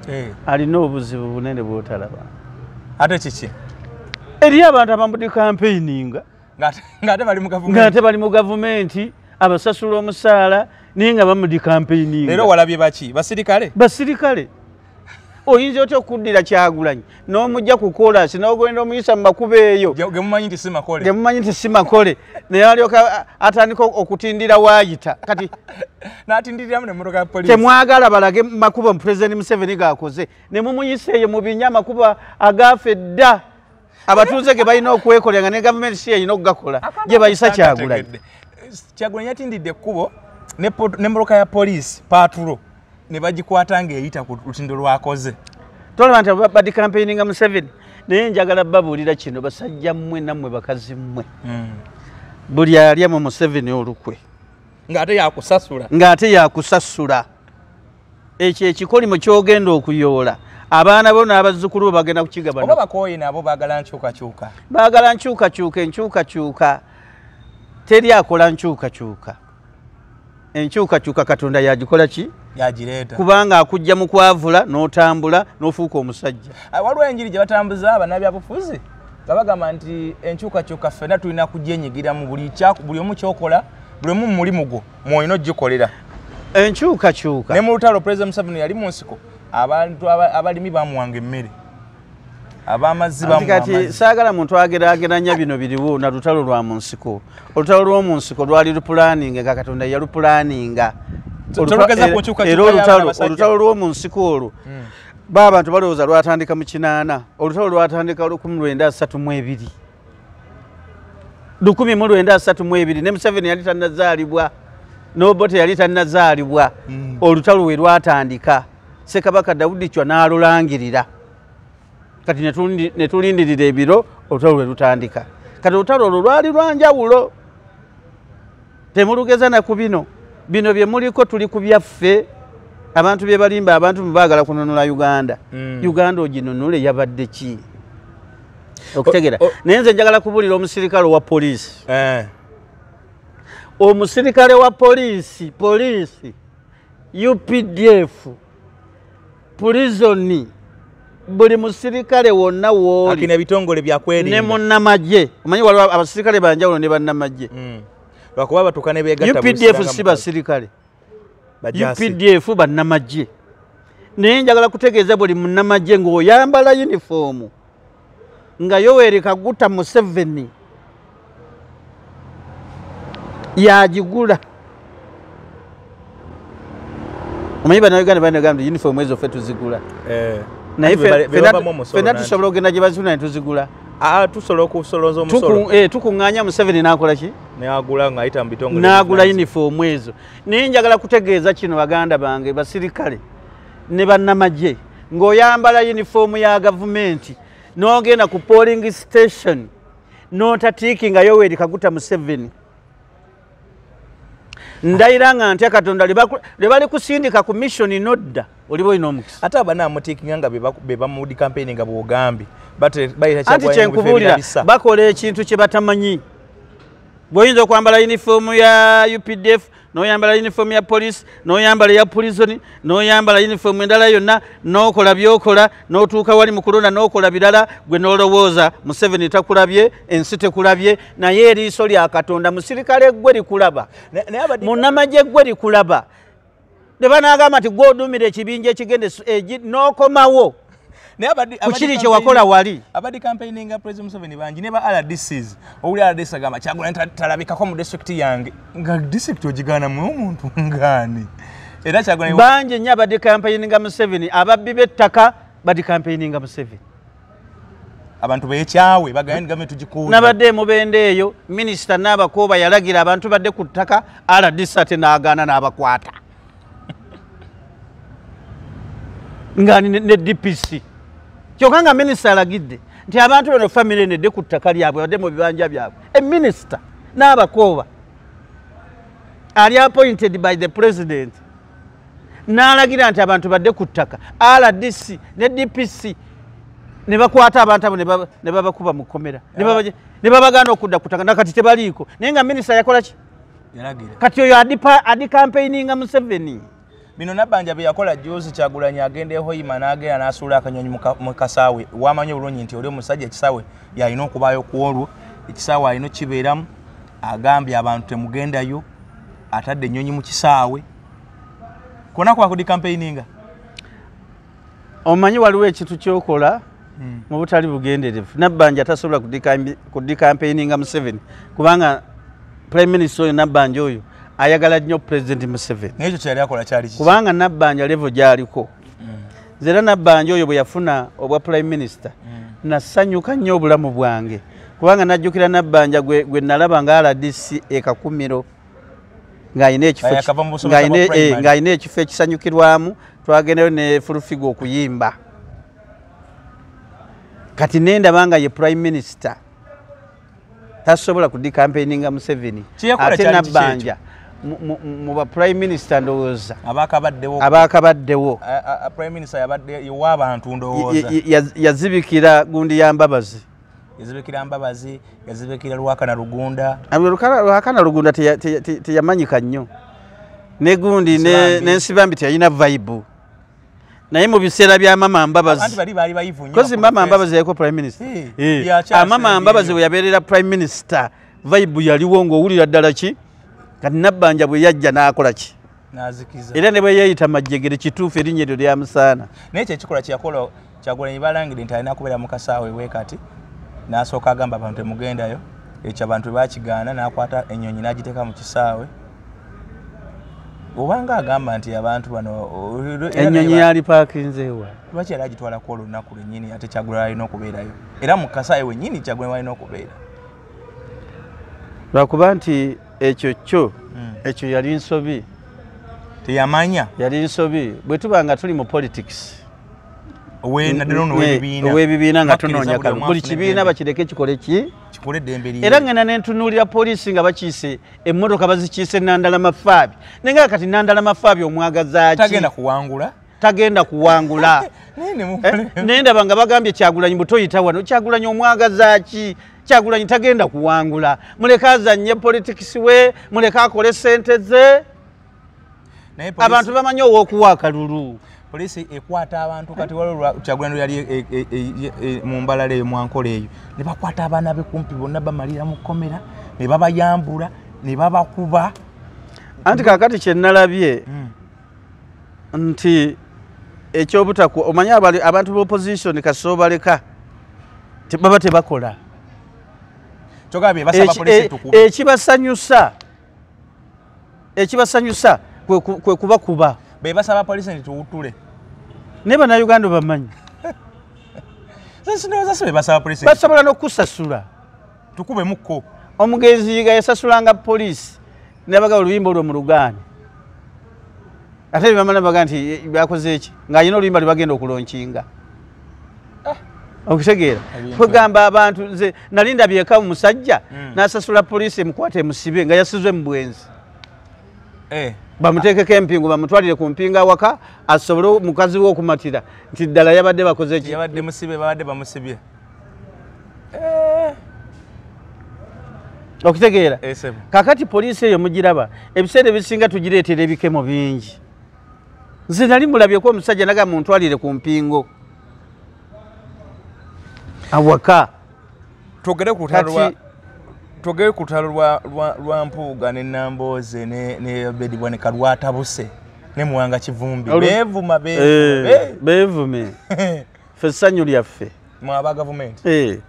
eh. alina obuzibu bunene bwotalaba ate kiki eriyo abantu abambudde kampeininga ngaate bali mu gavumenti abasasula omusaala naye nga bamudi kampeininga era walabye baki basirikale basirikale oyinza otya okuddira kyagulanyi n'omujja ku kolansi n'ogenda omuyisa mu makubo eyo gemumanyi nti simakole gemumanyi nti simakole naye alyoka atandika okutindira waayita kati n'atindiriramu ne mmotoka ya polisi temwagala balage makubo pulezidenti museveni gaakoze ne mumuyisa eyo mu binya amakubo agaafa edda abatuuze ge balina okwekolera nga ne gavumenti si yalina okugakola gye bayisa kyagulanyi kyagulanyi yatindidde ekkubo ne mmotoka ya polisi paatulo ne bagikwata ng'eyita ku lutindo lwakoze tolaba nti badi kampeyini nga museveni naye njagala babuulira kino basajja mmwe nammwe bakazi mmwe hmm. buli alya mu museveni olukwe ng'ate yakusasula ng'ate yakusasula ekyo ekikolimo kyogenda okuyoola abaana bo n'abazzukulu bo bagenda kukigabana oba bakooye nabo baagala nkyukakyuka baagala nkyukakyuka enkyukakyuka teri akola nkyukakyuka enkyukakyuka katonda yagikola ki yagireeta kubanga akujja mu kwavula n'otambula n'ofuuka omusajja ah, waliwo enjiri gye batambuza abanabyabufuzi nga bagamba nti enkyukakyuka ffena tulina kugyenyigiramu buli omu kyokola buli omu mumulimu gwo mwolina ogikolera enkyukakyuka ne mu lutalo pulezida museveni yali mu nsiko abantu abalimi bamuwanga emmere abamazibakati saagala muntu agerageranya bino biriwo na lutalo lwa mu nsiko olutalo lw'omu nsiko lwali lupulaninga nga katonda yalupulaninga era olutalo lw'omu nsiko olwo hmm. ba abantu balowooza lwatandika mu kinaana olutalo lwatandika lukumi lwenda asatu mu ebiri lukumi mu lwenda asatu mu ebiri ne museveni yali tannazaalibwa nobote yali tannazaalibwa hmm. olutalo we lwatandika ssekabaka dawudi cwa n'alulangirira kati ne tulindirira ebiro olutalo lwe lutandika kati olutalo olwo lwali lwanjawulo temulugeza na ku bino bino bye muliko tuli ku byaffe abantu bye balimba abantu bebaagala kununula uganda mm. uganda oginunule yabadde ki okutegera naye nze njagala kubulira omusirikale owa poliisi eh. omusirikale wa poliisi poliisi updf pulizoni buli musirikale wonna wooliebitongole byakwerinda ne munnamagye omanyi waliwo abasirikale banjawulo ne bannamagye mm. lwakuba batuuka nebegaupdf si basirikale updf bannamagye naye njagala kutegeeza buli munnamagye ng'oyambala yunifoomu nga yoweri kaguta museveni yagigula omanyi banauganda banagamba uniform ezo fe tuzigula eh, naye fena tusobola okugenda gye bazifuna netuzigula ah, tusobola okusolooza omusolo eh, tukuŋŋaanya museveni n'akola ki n'agula ng'ayita mu bitongole n'agula yunifoomu ezo naye njagala kutegeeza kino baganda bange basirikale ne bannamagye ng'oyambala yunifoomu ya gavumenti n'ogenda ku polling station n'otatiiki nga yoweri kaguta museveni ndayira nga ntya katonda lwe bali kusindika ku missioni nodda oliba olina omukisa ate abanamutiikinga nga be bamudi kampeyini nga bwogambye anti kyenkubuulira bakola ekintu kye batamanyi bw'oyinza okwambala yunifoomu ya updf noyambala uniform ya police noyambala ya prison noyambala uniform endala yonna nokola byokola notuuka wali mukulonda nokola birala gwe nolowooza museveni takulabye ensi tekulabye naye eriiso lya katonda musirikale gwe likulaba munamagye gwe likulaba nebanagamba nti gwe odumira ekibinja ekigende eh, nokomawo kukiri kyewakola wali abadde campaigninga president museveni bangi ne ba rdcs owuli rdc agamba kyagulani talabikako mu district yange nga district ogigaanamu omuntu ngaani era kyagulani bangi nnyo abadde campaigninga museveni ababbi b'ettaka badde campaigninga museveni abantu bekyawe bagaye nigame tugikuuza nabadde emubenda eyo minisita naabakooba yalagira abantu badde ku ttaka rdc ate naagaana n'abakwata nga ne dpc kyoka nga minisita alagidde nti abantu bano famiry eno edde ku ttaka lyabwe badde mu bibanja byabwe eminisita n'abakooba ali appointed by the president n'alagira nti abantu badde ku ttaka rdc ne dpc ne bakwata abantu abo ne babakuba mu kkomera ne babagana okudda ku ttaka nakati tebaliiko naye nga minisita yakola ki kati oyo adi campaigninga museveni bino nabanja byeyakola juzi kyagulanyi agenda ehoima nagenda nasuula akanyonyi mukasaawe wamanyi obulungi nti oli omusajja ekisaawe yalina okubaayo kwolwo ekisaawe alina okibeeramu agambye abantu temugendayo atadde enyonyi mukisaawe kona kwakudi campaigninga omanyi waliwo ekintu kyokola hmm. mu butali bugenderevu nabbanja tasobola kudikampeininga museveni kubanga prime minister oyo nabbanja oyo ayagala nnyo president museveni kubanga nabbanja levo gyaliko hmm. nze era nabbanja oyo bwe yafuna obwa prime minister hmm. nasanyuka nnyo obulamu bwange kubanga najjukira nabbanja gwe nalaba nga rdc ekakumiro ng'alina ekifo eh, ekifo ekisanyukirwamu twagendayo ne fulufiga okuyimba kati nendaba nga ye prime minister tasobola kudikampeininga museveni ate nabbanja mu ba prime minister ndowooza abakabaddewo yazibikira gundi ya mbabazi yazibikira mbabazi yazibikira lwakana lugunda lwakana lugunda teyamanyika nnyo negundi nensibambi teyalina vaibu naye mu biseera bya mama mbabazizi mama mbabazi yaliko prime minister amama eh, ah, mbabazi bwe yabeerera prime minister vaibu yaliwo ngaowulira ddala ki kati nabbanja bwe yajja n'akola ki nazikiza era ne bwe yeeyita majjegere kituufu erinnya eryo lyamusaana naye kyo ekikolwa kyeyakola kyagulanyi balangire nti alina kubeera mu kasaawa ewe kati n'asooka agamba abantu temugendayo ekyo abantu bwe bakigaana n'akwata ennyonyi n'agiteeka mu kisaawe obanga agamba nti abantu bano enyonyi yali pakinzewa lwaki yali agitwalako olunaku lwenyini ate kyagula alina okubeerayo era mukasaayi wenyini kyagula alina okubeera lwakuba nti ekyo kyo hmm. ekyo yali nsobi teyamanya yali nsobi bwe tuba nga tuli mu politics owebibiina nga tunoonya kal buli kibiina bakireke kikole ki era ngenda nentunuulira poliisi nga bakiise emmotoka bazikiise nandala mafaabi naye nga kati nandala mafaabi omwagazaaki tagenda kuwangula nendaba eh, nga bagambye kyagulanyi butoyita wano kyagulanyi omwagazaki kyagulanyi tagenda kuwangula muleke azanye politikisi we muleke akole sente ze abantu bamanyi owokuwa akalulu polisi ekwata abantu kati waliwo kyagulanyi yali e, e, e, mu mbalala eyo mwankola eyo ne bakwata abaana be kumpi bonna bamalira mu kkomera ne babayambula ne babakuba anti kakati kyenalabye mm. nti ekyobutakwa omanyi abantu ba opposition kasoobaleka baba tebakola e- ekibasanyusa ekibasanyusa kwe kubakuba bebasaba polisi nti tuwutule naye banauganda bamanyi basobola nokusasula tukubemukko omugenzi yiga yasasulanga polisi nabaga oluyimba olwo mulugaani ate bamala baga nti eh, bakoze eki ng'alina oluyimba lwe bagenda okulonkinga ah. okutegeera kwegamba abantu nze nali ndabyeka omusajja hmm. n'asasula poliisi emukwata emusibe nga yasizwe mu bwenzi eh. bamuteekeko empingu bamutwalire ku mpinga awaka asobole mukazi we okumatira nti ddala yabadde bakoze eki yabadde musibe babadde bamusibye eh. okitegeera eh, kakati poliisi eyo mugiraba ebiseera ebisinga tugireetera ebikemo bingi nze nali mulabyeko omusajja naga muntwalire ku mpingo awaka twogere ku lutalwa twogere ku lutalo lwa mpuuga ne nambooze ne obedi bwanika lwatabuse ne muwanga kivumbi beevuma beevume eh, ffe essanyu lyaffe mwaba gavumenti eh,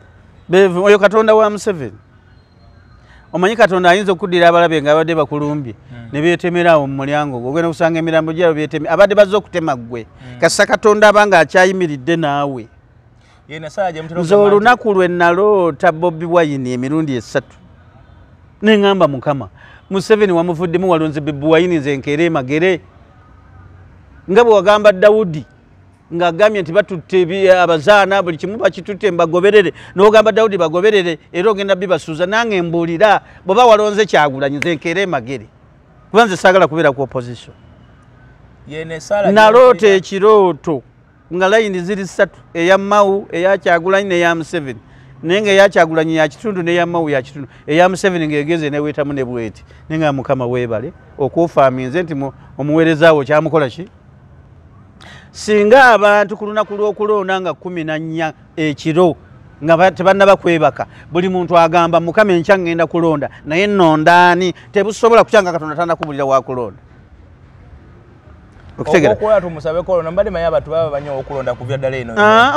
oyo katonda wa museveni omanyi katonda ayinza okuddira abalabe nga abadde bakulumbye hmm. ne beetemeraawo mu mulyango gwe ogenda okusanga emirambo gyabo beeteme abadde bazze okutema ggwe hmm. kasisa katonda aba nga akyayimiridde naawe nze olunaku lwe naloota bobi wayini emirundi esatu ne ŋŋamba mukama museveni wamuvuddemu walonze bebuwayini nze nkeere emagere nga bwe wagamba dawudi ng'agambye nti batutte abazaana buli kimu bakitutte mbagoberere n'ogamba dawudi bagoberere era ogenda bibasuuza nange mbuulira bweba walonze kyagulanyi nze nkeera emagere kuba nze saagala kubeera ku opposition naloota ekirooto nga layini ziri ssatu eya mawu eya kyagulanyi neya museveni naye nga eyakyagulanyi yakitundu neyamawu yakitundu eya museveni ngaegeze newetamu nebweti naye nga mukama webale okuufaminze nti omuweereza wo kyamukola ki singa abantu ku lunaku lw'okulonda nga kumi na nnya ekiro nga tebannaba kwebaka buli muntu agamba mukama enkya ŋŋenda kulonda naye nondaani tebusobola kutya nga katonda tanakubulira wakulonda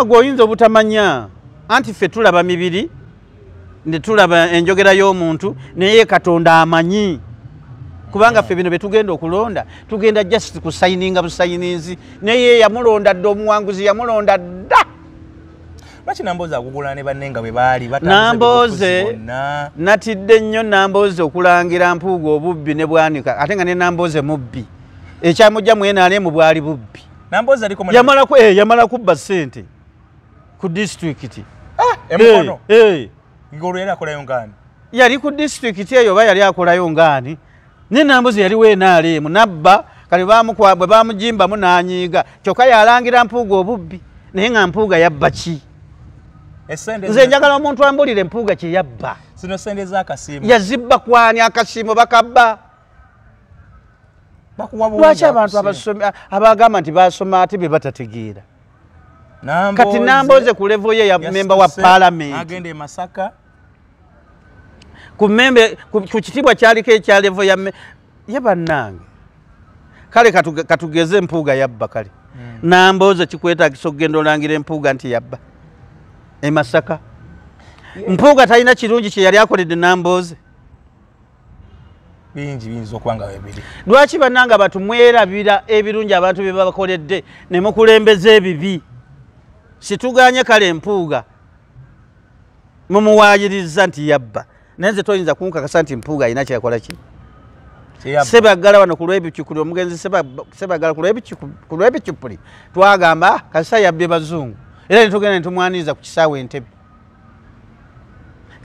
gweoyinza obutamanya anti ffe tulaba mibiri ne tulaba enjogera y'omuntu naye katonda amanyi kubanga ffe bino byetugenda okulonda tugenda just kusayininga busayininzi naye yamulonda dda omuwanguzi yamulonda dda lwaki nambooze akugula ne banne nga bwe baali nambooze natidde nnyo nambooze okulangira mpuuga obubbi ne bwanika ate nga ne nambooze mubbi ekyamujja mwenaalemu bwali bubbi eh, yamala kubba ssente ku disitulikiti ah, emukono eh, eh. ng'olwo yali akolayo ngaani yali ku disitulikiti eyo oba yali akolayo ngaani naye nambuzi yaliwo enaaliimu nabba kale bwe bamujimbamu n'anyiiga kyokka yalangira mpuuga obubbi naye nga mpuuga yabba ki nze njagala omuntu ambulire mpuuga kye yabba zino sente zakasiimu yazibba kwani akasiimu bakabba lwaki abantu abagamba nti basoma ate bye batategeera kati namboze ku levo ye ya memba wa palamenti agenda e masaka ku membe ku kitibwa kyaliko ekya levo ya ye bannange kale katugeze empuuga yabba kale hmm. namboze kikwetagisa okugenda olangira empuuga nti yabba e masaka mpuuga talina kirungi kyeyali akoledde namboze bingi biyinza okuba nga webiri lwaki bannanga abantu mwerabira ebirungi abantu bye babakoledde ne mukulembeza ebibi situganye kale mpuuga mumuwaayiriza nti yabba naye nze toyinza kunkakasa nti mpuuga alina kyeyakola ki sebaggala wano ku lwebicupuli omugenzi sebaggala ku lwebicupuli twagamba kasita yabbye bazungu era netugenda netumwaniriza ku kisaawe entebe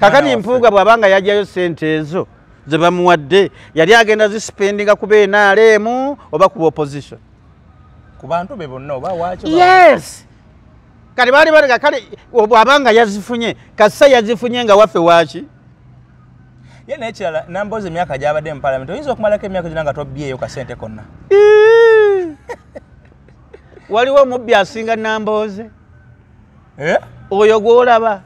kakati mpuuga bw'aba nga yajjayo ssente ezo ze bamuwadde yali agenda zisipendinga kuba enaaleemu oba kuba opposition ku bantu be bonna oba waaki yes kati baali balega kale bw'aba nga yazifunye kassa yazifunye nga waffe waaki ye nekirala namboozi emyaka gyabadde mu palamenti oyinza okumalako emyaka gyona nga tobyeyo kasente konna waliwo omubbi asinga nambooze eh? oyo gwolaba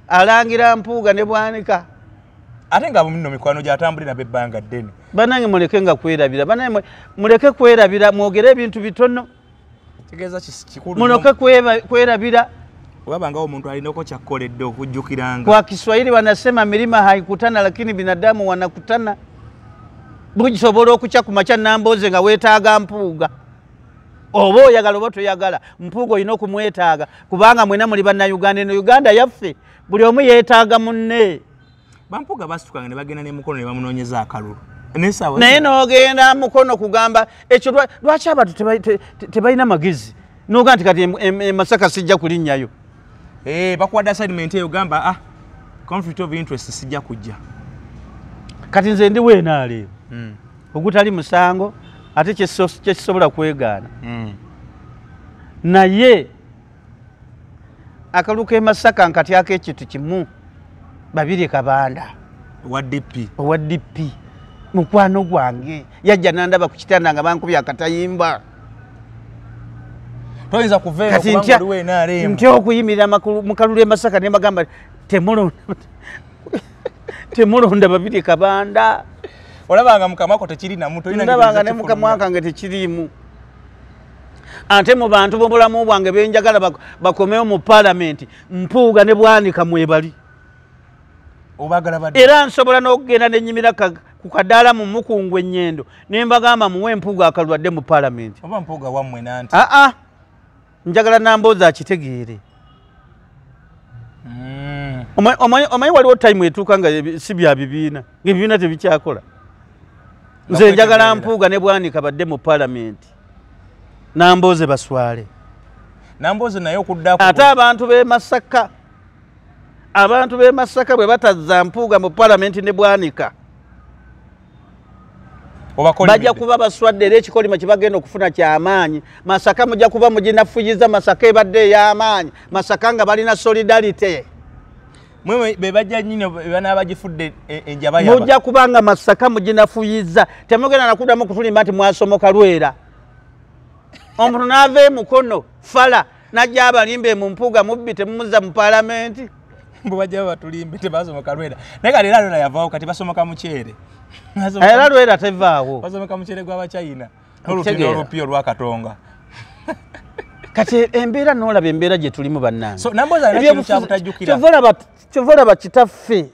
alangira mpuuga ne bwanika ate nga muno mikwano gyatambuli nabe ebbanga ddene banange muleke nga kwerabira banange muleke kwerabira mwogere ebintu bitono munoke kwerabira wabangawo omuntu alinako kyakkoledde okujjukiranga kwa kiswahili wanasema milima haikutana lakini binadamu wanakutana bugisobola okukya ku makya nambooze nga weetaaga mpuuga oba oyagala oba toyagala mpuuga olina okumwetaaga kubanga mwena muli bannayuganda eno uganda yaffe buli omu yeetaaga munne bampuuga basitukanga ne bagenda ne mukono ne bamunoonyeza akalulu naye nogenda mukono kugamba ekyo lwaki abantu tebalina magezi noga nti kati emasaka sijja kulinnyayo eh, bakuwadde assignment eyo gamba ah conflict of interest sijja kujja kati nze ndi weenaaleero hmm. ogutali musango ate kyekisobola kwegaana hmm. naye akalulu kemasaka nkatyako ekintu kimu babiri kabanda owa dp mukwano gwange yajja nandaba ku kitanda nga bankubya akatayimba ntya okuyimirira mukalulu emasaka nemagamba temulonda temulonda babiri kabanda olabanga mukamako tekiri namu tolinaabanga ne mukamwakange tekiriimu ate mu bantu bobulamu bwange benjagala bakomewo mu palamenti mpuuga ne bwanika mwebali era nsobola n'okugenda nenyimira ku kadaala mu mukungu enyendo ne mbagamba muwe mpuuga akalwadde mu palamenti aa njagala namboozi akitegeere mm. omanyi waliwo tayimu etuuka nga si bya bibiina ngaebibiina tebikyakola nze njagala mpuuga ne bwanika badde mu palamenti nambooze baswale nambooze naye okudda ate abantu b'e masaka abantu b'e masaka bwe batazza mpuuga mu palamenti ne bwanika bajja kuba baswadde era ekikolimo kyebagenda okufuna kyamaanyi masaka mujja kuba muginafuyiza masaka ebadde eyamaanyi masaka nga balina solidarity mujja kuba nga masaka muginafuyiza temugenda nakudamu kutulimba nti mwasomoka lwera omuntu naava emukono fala najja abalimbe mu mpuuga mubbi temumuzza mu palamenti mbu bajja babatulimbe tebasomoka lwera naye kati era lwera yavaawo kati basomoka mukyere era lwera tevaawo basomoka mukyere gwabachina nolutino olupi olwakatonga kati embeera nolaba embeera gyetulimu bannange kyova olaba kitaffe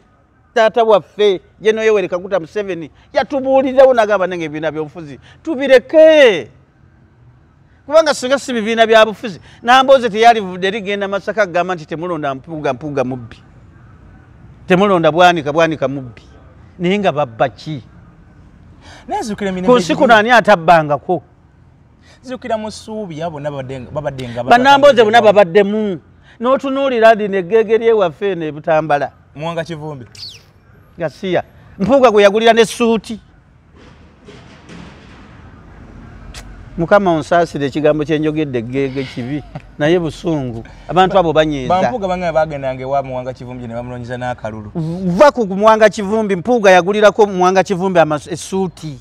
taata waffe ye noyoweri kaguta museveni yatubuulirirawo nagamba nange ebibiina byobufuzi tubireke kubanga singa si bibiina byabufuzi namboozi teyalivudde rigenda masaka kugamba nti temulonda mpuuga mpuuga mubbi temulonda bwanika bwanika mubbi naye nga babba ki ku nsi kuno ani atabbangako nzijukira mu suubi ya bonna babaddenga banamboze bonna babaddemu n'otunuulira lino eggeege lyewaffe eno ebutambala muwanga kivumbi gasiya mpuuga gwe yagulira ne suuti mukama onsaasire ekigambo kyenjogedde eggeege kibi naye busungu abantu abo banyiizampuuga banga bagendanga ewa muwanga kivumbi ne bamunoonyeza n'akalulu va ku muwanga kivumbi mpuuga yagulirako muwanga kivumbi esuuti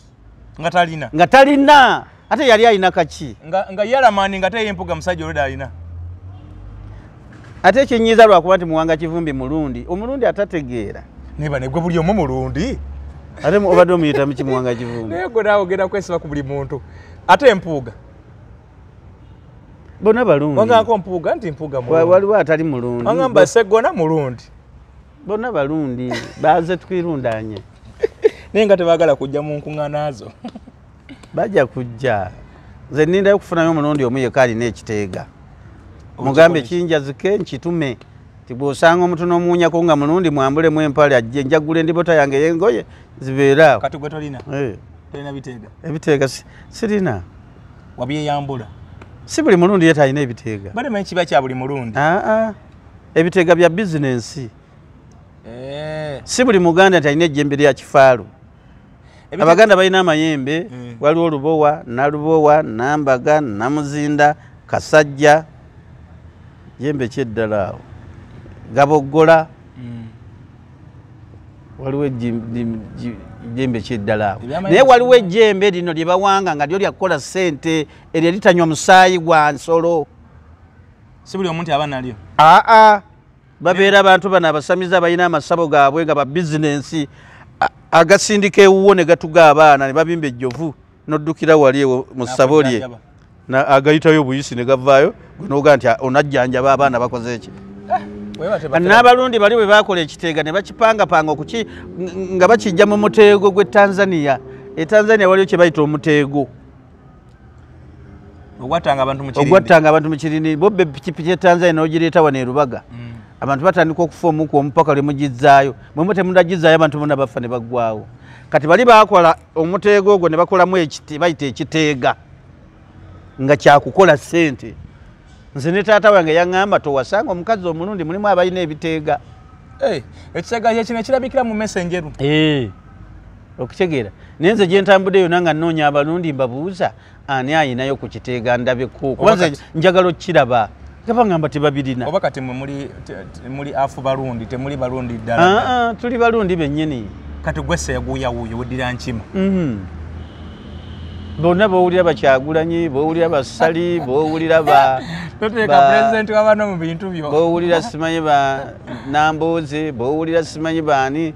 nga talina nga talina ate yali alina kaki nga, nga yalamani nga teye mpuga musajja olweda alina ate ekinyiiza lwakuba nti muwanga kivumbi mulundi omulundi atategeera neba negwe buli omu mulundi ate obadde omuyitamu kimuwanga kivumbi naye gwe naawe ogenda kwesiba ku buli muntu ate empuuga bona balungi wangako mpuuga nti mpuuga waliwo atali mulungi wangamba segona mulundi bona balundi baze twirundanye naye nga tebagala kujja mu nkuŋanaazo bajja kujja nze nindayo okufunayo omulundi omu yeka alina ekiteega mugambe kinjazike nkitume tibwosanga omuntu nomuwunyako nga mulundi mwambulemu empale ajje njagula endibota yange yengoye zibeeraawo eh. ebiteega sirina wabyeyambula si buli mulundi ye talina ebiteega bali manyi kiba kya buli mulundi ah, ah. ebiteega bya bizinensi eh. si buli muganda nti alina ejjembe lya kifaalu abaganda balina amayembe eh. waliwo olubowa nalubowa nambaga namuzinda kasajja yembe kyeddala awo gaboggola hmm. waliwo ejjembe kyeddala awo naye waliwo ejjembe lino lyebawanga nga lyo lyakukola sente eryo litanywa musaayi gwa nsolo si buli omuntu aba nalyo aa babeera abantu bano abasamize abalina amasabo gaabwe nga babizinensi agasindika ewuwo ne gatuga abaana ne babimba ejjovu noddukira wali ewo mu ssabo lye agayitayo obuyisi ne gavaayo gwenoga nti onajjanjaba abaana bakoze eki eh, n'abalundi bali bwe bakola ekiteega ne bakipangapanga okuki nga bakijja mu muteego gw'e tanzania e tanzania waliyo kye bayita omuteego ogwattanga abantu mu kirindi ogwattanga abantu mu kirindi bo pikipiki ya Tanzania n'ogireeta wano e Lubaga mm. abantu batandika okufa omuku omupaka lwe mugizzaayo mwe mwe temudagizzaayo abantu bona bafa ne baggwawo kati bali baakola omuteego ogwo ne bakolamu bayita ekiteega nga kyakukola ssente nze ne taata wange yaŋŋamba towasanga omukazi omulundi mulimu abalina ebiteega eh, ekiteega kyekino ekirabikira mu mesa enjeru eh, okitegeera naye nze gye ntambudde yona nga nnoonya abalundi mbabuuza ani ayinayo ku kiteega ndabeko kuba nze njagala okukiraba gabangamba tebabirina oba kati muli afu balundi temuli balundi ddala ah, ah, tuli balundi bennyini kati gwese yaguuyawuuyo weddira nkima mhm. bonna bowulira bakyagulanyi bowulira basali bowulira bowulira simanyi ba namboozi bowulira simanyi baani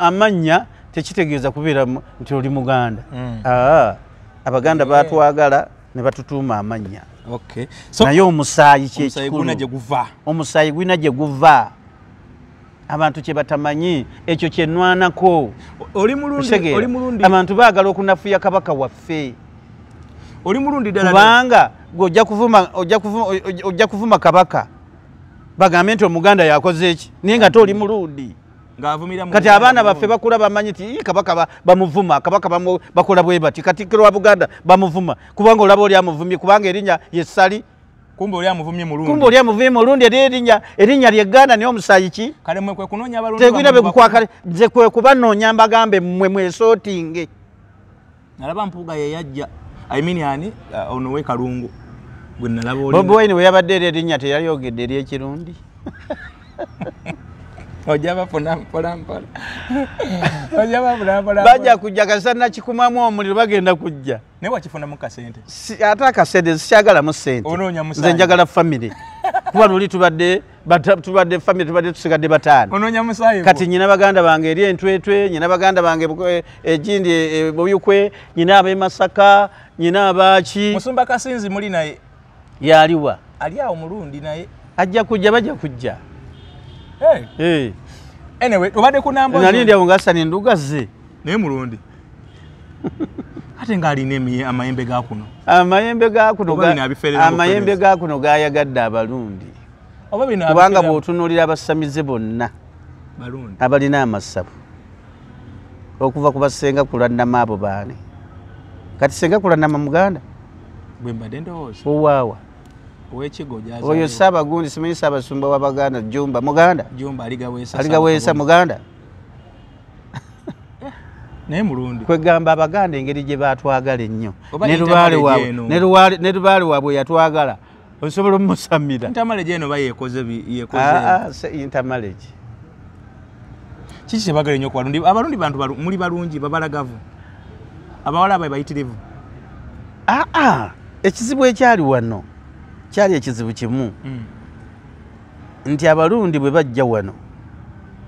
amannya tekitegeeza kubeera nti oli muganda hmm. ah, abaganda batwagala ne batutuuma amannya naye omusaayi kyekikulu omusaayi gulina gye guva abantu kyebatamanyi ekyo kyenwanako abantu bagala okunafuya kabaka waffe oli mulundi kubanga ojja kuvuma kabaka bagambe nti omuganda yakoze eki naye nga te oli mulundi kati abaana baffe bakula bamanyi ti kabaka bamuvuma kabaka bakola bwebati katikiro wa buganda bamuvuma kubanga olaba oli amuvumye kubanga erinya yesali kumbe oli amuvumye mulundi kumbe oli amuvumye mulundi eri erinya erinya lye ganda niyo musayi ki kale mwe kwe kunonya balundu tegwina be kukwakale nze kwe kuba nonya mbagambe mwe mwe sotinge nalaba mpuga ye yajja i mean yani uh, ono we kalungu gwe nalaba oli bobo wine we yabadde eri erinya te yali ogedde eri ekirundi ojaba funa mpola mpola ojaba funa mpola bajja kujja kasana kikumamu omuliro bagenda kujja naye wakifunamu kasente ate akasente sikyagalamu sente nze njagala famiry kuba luli tubadde tubadde famiry tubadde tusigadde bataano kati nyina baganda bange eri entwetwe nyina baganda bange eh, egindi eh, eh, buyukwe nyina abemasaka nyina abaaki musumba kasinzi muli naye yaliwa ali awo mulundi naye ajja kujja bajja kujja hey. hey. anyway obadde kunambanali ndi awo ngasani enduga ze naye mulundi ate ng'alina amayembe ga kuno amayembe ga kuno amayembe ga kuno gayagadde abalundi kubanga bw'otunuulira abasamize bonna abalina amasabu okuva ku basenga kulannama abo baani kati senga kulannama muganda owaawa oyo saabagundi simanyi saabasumba wa baganda jumba muganda aligaweesa muganda kwegamba abaganda engeri gye batwagala ennyo ne lubaale waabwe yatwagala osobola omusamira ntamaleje eno bayekoze yekoze ah, ah, se ntamaleje kiki kyebagala nnyo kubalundi abalundi bantu muli balungi babalagavu abawala abae bayitirivu aa ah, ekizibu ekyali wano kyali ekizibu kimu hmm. nti abalundi bwe bajja wano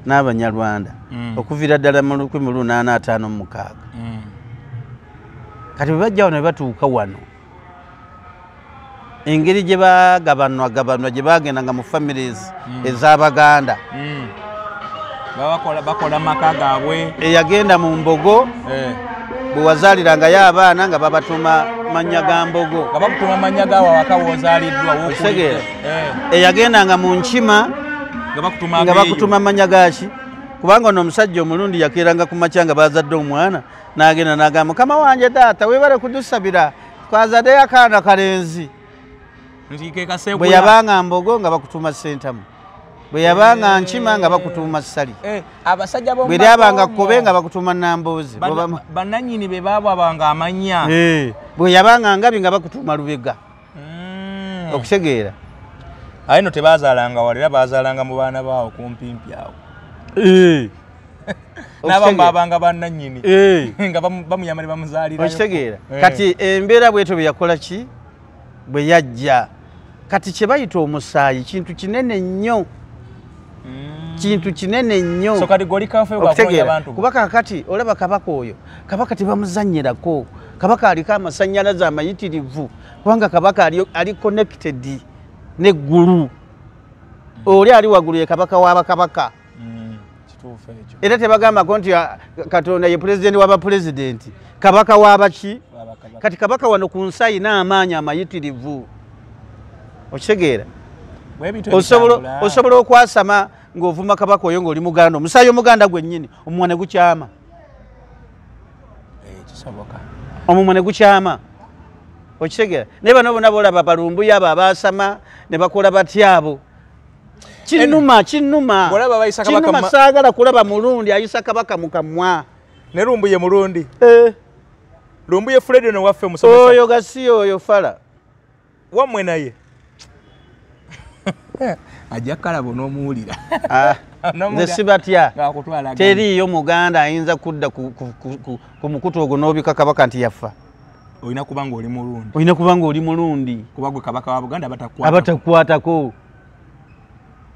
n'abanyarwanda hmm. okuviira ddala mu lukumi lunaana ataano mumukaaga hmm. kati bwe bajja wano bebatuuka wano engeri gye bagabanwa gabanwa gye bagenda nga mu families mm. ez'abaganda mm. bakola maka gaabwe eyagenda mu mbogo eh. bwe wazalirangayo abaana nga babatuma mannya ga mbogo nga bakutuma mannya gaawe awaka wozaliddwa wokutegeera eh. eyagendanga mu nkima nga bakutuma mannya gaaki kubanga ono omusajja omulundi yakeeranga ku makya nga bazadde omwana nagenda nagamba mukama wanje taata webale kudusabira twazadeyo akaana kalenzi bwe yabanga mbogo nga bakutuma sentamu bwe yabanga eh. nkima nga bakutuuma ssali eh, bwe lyabanga kkobe nga bakutuuma namboozi bananyini be baabwabanga amanya eh, bwe yabanga ngabi nga bakutuuma lubega mm. okitegeera aye no tebazalanga wala era bazalanga mu baana baawo kumpimpi awo eh. nabamu babanga bananyini eh. nga bamuyamba ne bamuzalira okitegeera eh. kati embeera bwetyo byeyakola ki bwe yajja kati kye bayita omusaayi kintu kinene nnyo mm. kintu kinene nnyo okutegeera kuba kakati olaba kabaka oyo kabaka tebamuzanyirako kabaka aliko amasanyalaze amayitirivu kubanga kabaka ali connected neggulu oli ali waggulu ye kabaka wabakabaka mm, era tebagambako nti ah, katonda ye pulezidenti wabapulezidenti kabaka wabaki kati kabaka wano ku nsi ayina amaanyi amayitirivu okitegeera osobola okwasama ng'ovuma kabaka oyo ng'oli muganda omusaayi omuganda gwennyini omumwa ne gukyama eh, omumwa ne gukyama okitegeera naye bano bona bolaba balumbuyo abo abaasama ne bakola batya abo kinuma kinuma kinuma saagala kulaba mulundi ayisa kabaka mu kamwa ne lumbuye mulundi eh. lumbuye fredino waffe musomesa oyo gasiya oyo fala wamwe naye ajja kalabo nomuwulira ah, nze sibatya teriiyo muganda ayinza kudda ku mukutu ogwo nobika kabaka nti yaffa olina kuba nga oli mulundi olina kuba nga oli mulundi kuba gwe kabaka wa buganda abatakukwatako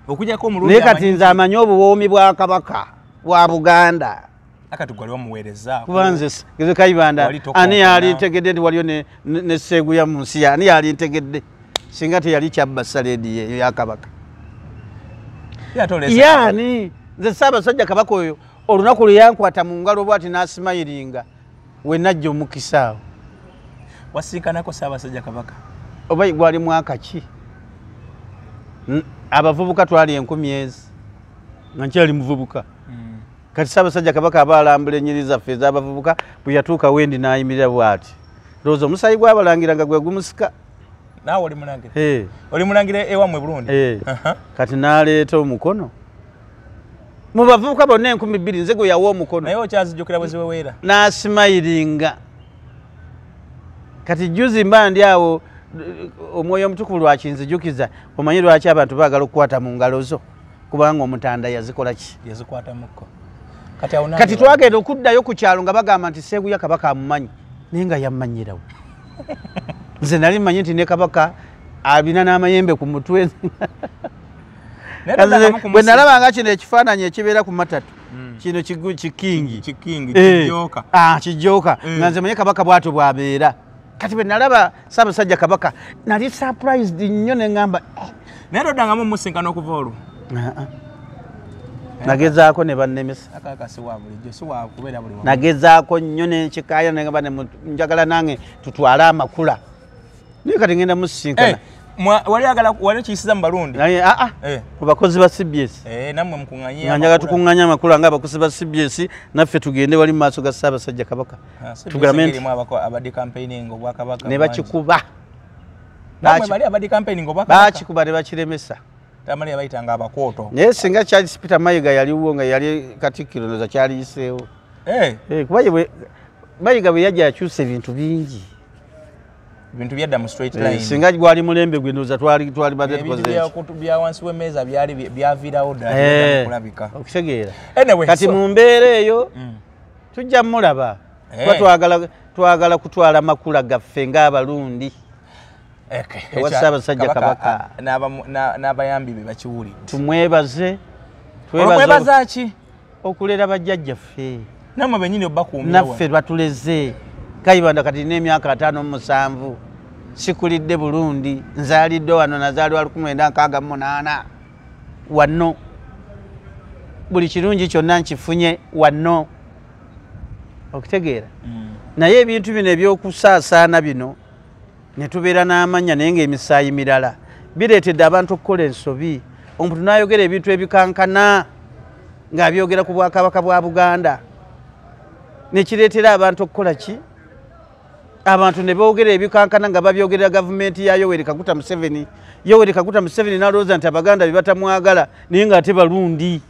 okujako omulundi naye kati nze amanyi obuwoomi bwa kabaka wa buganda akati gwali wamuweereza kuba nze nze kayibanda ani yali ntegedde nti waliyo ne ne seeguya mu nsi ani yali ntegedde singa teyali kyabba saleedi eyo ya kabaka yaani nze ssaabasajja kabaka oyo olunaku lwe yankwata mu ngalo bw ati n'asimayiringa we najja omukisa awo wasiikanako ssaabasajja kabaka oba gwali mwaka ki abavubuka twali enkumi ezi nga nkyali muvubuka kati ssaabasajja kabaka aba alambula enyiri zaffe ez'abavubuka bwe yatuuka wendi n'ayimirira bw'ati lowooza omusaayi gwabalangira nga gwe gumusika naawe oli mulangira oli mulangira ewammwe burundi kati n'aleeta omukono mu bavubuka bonna enkumi bbiri nze gwe yawa omukono naye okyazijjukira bwe ziweweera n'asimayiringa kati juzi mba ndi awo omwoyo omutukuvu lwakinzijukiza omanyi lwaki abantu baagala okukwata mu ngalo zo kubanga omutanda yazikola ki yazikwatamuko kati awona kati twagenda okuddayo ku kyalo nga bagamba nti seeguya kabaka amumanyi naye nga yammanyirawo nze nali mmanyi nti ne kabaka abina n'amayembe ku mutwe bwe nalaba nga kino ekifaananyi ekibeera ku matatu hmm. kino kikingi kijooka eh. ah, nga nze manye kabaka bwatyo bwabeera kati bwe nalaba ssaabasajja kabaka nali surprised nnyo ne ŋamba eh. naye toddangamu omusinkana okuva olwo nagezaako ne bannemisanagezaako nnyo nekikaaya nengamba njagala nange tutwale amakula naye kati ngenda musinkana eh, wali okiyisiza mu balundi aa ah, ah. eh. ku bakozi ba cbs eh, namwe mukunganya tukuŋanya amakula nga abakozi ba cbs naffe tugende wali mu maaso ga ssaabasajja kabaka Ah, nebakikuba bakikuba nebakiremesa naye singa charles peter mayiga yaliwo nga yali katikkiro noza kyaliyiseewo eh. eh, kuba mayiga bwe yajja yakyusa ebintu bingi bintu byadda mu straight eh, line singa gwali mulembe gwe ndoza twali twali bade tukoze bya kutu bya wansi we meza byali byavira oda kulabika okitegeera anyway kati mu mbeere eyo mm. tujja mulaba eh. kuba twagala twagala kutwala makula gaffe ng'abalundi ewa ssaabasajja kabaka n'abayambi be bakiwulidde tumwebaze twebaza ki okulera bajjajjaffe namwe benyini obakuumira naffe batuleze kayibanda kati n'emyaka ataano mu musanvu sikulidde bulundi nzaalidde wano nazaalibwa lukumi lwenda nkaaga mu munaana wanno buli kirungi kyonna nkifunye wanno okitegeera mm. naye ebintu bino ebyokusaasaana bino ne tubeera n'amanya naye ngaemisaayi mirala bireetedde abantu okukola ensobi omuntu n'ayogera ebintu ebikankana ng'abyogera ku bwakabaka bwa buganda nekireetera abantu okukola ki abantu ne boogera ebikankana nga babyogerera gavumenti ya yoweri kaguta museveni yoweri kaguta museveni nalowooza nti abaganda bebatamwagala naye nga ate balundi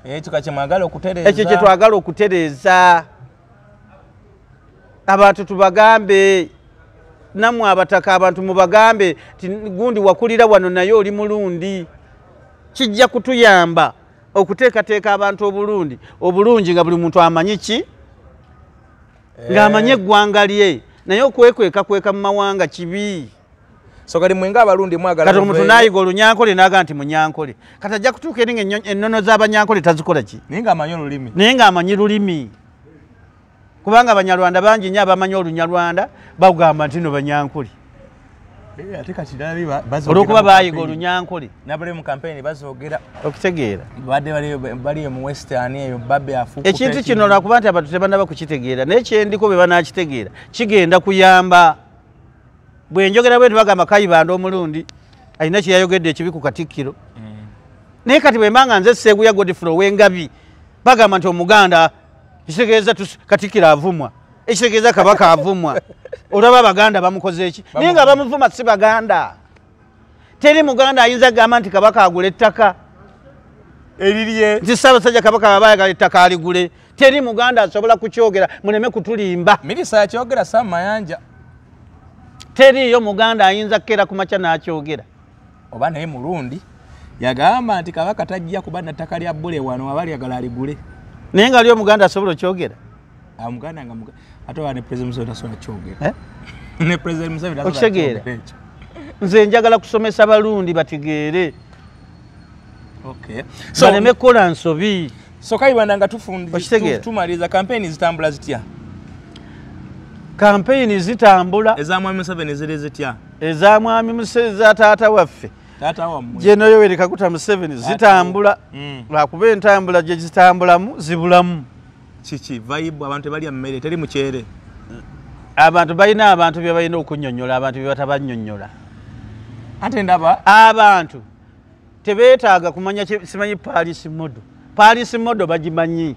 ekyo kyetwagala okutereeza abantu tubagambe namwe abataka abantu mubagambe ti gundi wakulira wano naye oli mulundi kijja kutuyamba okuteekateeka abantu obulundi obulungi nga buli muntu amanyi ki eh. ng'amanyi eggwanga lye naye okwekweka kweka mu mawanga kibi sokati mwenga abalundi mwagalakati omuntu nayiga olunyankole naga nti munyankole kati ajja kutuuka eri nga ennono z'abanyankole tazikola ki naye ng'amanyi olulimi naye ng'amanyi lulimi kubanga abanyarwanda bangi nyo abamanyi olunyarwanda bagamba nti no banyankuli Eh, ate kati nabi olwokuba bayiga olunyankole nabali mu kampeyini bazogera okitegeera badde bali emu western eyo babe afu ekintu kino lwakuba nti abantu tebanaba kukitegeera naye kyendiko bwe banakitegeera kigenda kuyamba bwe njogera bwe ntibagamba kayibanda omulundi alina kyeyayogedde ekibi ku katikkiro mm. naye kati bwemba nga nze seeguya godfrey owengabi bagamba nti omuganda ekitegeeza katikiro avumwa ekitegeeza kabaka avumwa olaba abaganda bamukoze eki naye nga bamuvuma si baganda teri muganda ayinza agamba nti kabaka agula ettaka eririe nti ssaabasajja kabaka baba ayagala ettaka aligule teri muganda asobola kukyogera muleme kutulimba mirisa yakyogera samayanja teriiyo muganda ayinza kukeera ku makya n'akyogera oba naye mulundi yagamba nti kabaka tajja kuba nattaka lya bule wano aba lyagala aligule naye nga ali omuganda asobola okyogera amuganda ah, nga ate oba ne president museveni tasobola kyogera eh? ne president museveni okitegeera nze njagala kusomesa balundi bategeere baleme kukola nsobi sokaibanda nga tufuntumaliza kampeyini zitambula zitya kampeyini zitambula eza mwami museveni ziri zitya eza mwami museveni za taata waffe jeno yoweri kaguta museveni zitambula mm. lwakuba entambula gye zitambulamu zibulamu kiki vaibu abantu tebalya mmere teri mukyere abantu balina abantu bye balina okunyonyola abantu bye batabanyonyola ate ndaba abantu tebeetaaga kumanya simanyi paris modo paris modo bagimanyi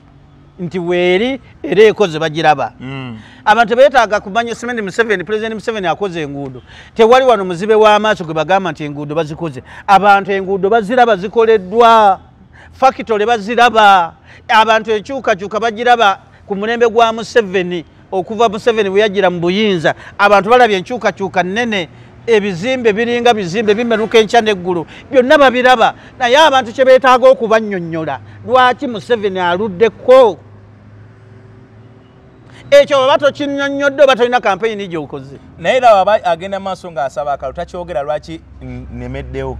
nti weeri era ekoze bagiraba hmm. abantu tebeetaaga kumanya simanyi museveni pulezidenti museveni akoze enguudo tewali wano muzibe w'amaaso gwe bagamba nti enguudo bazikoze abantu enguudo baziraba zikoleddwa fakitole baziraba abantu enkyukakyuka bagiraba ku mulembe gwa museveni okuva museveni bweyajjira mu buyinza abantu balabye enkyukakyuka nnene ebizimbe biringa bizimbe bimeruka enkya neggulu byonna babiraba naye abantu kye beetaaga okubanyonyola lwaki museveni aluddeko ekyo oba tokinyonyodde oba tolina kampeyini gyokoze naye laba aba agenda maaso ng'asaba akalo takyogera lwaki nemeddewo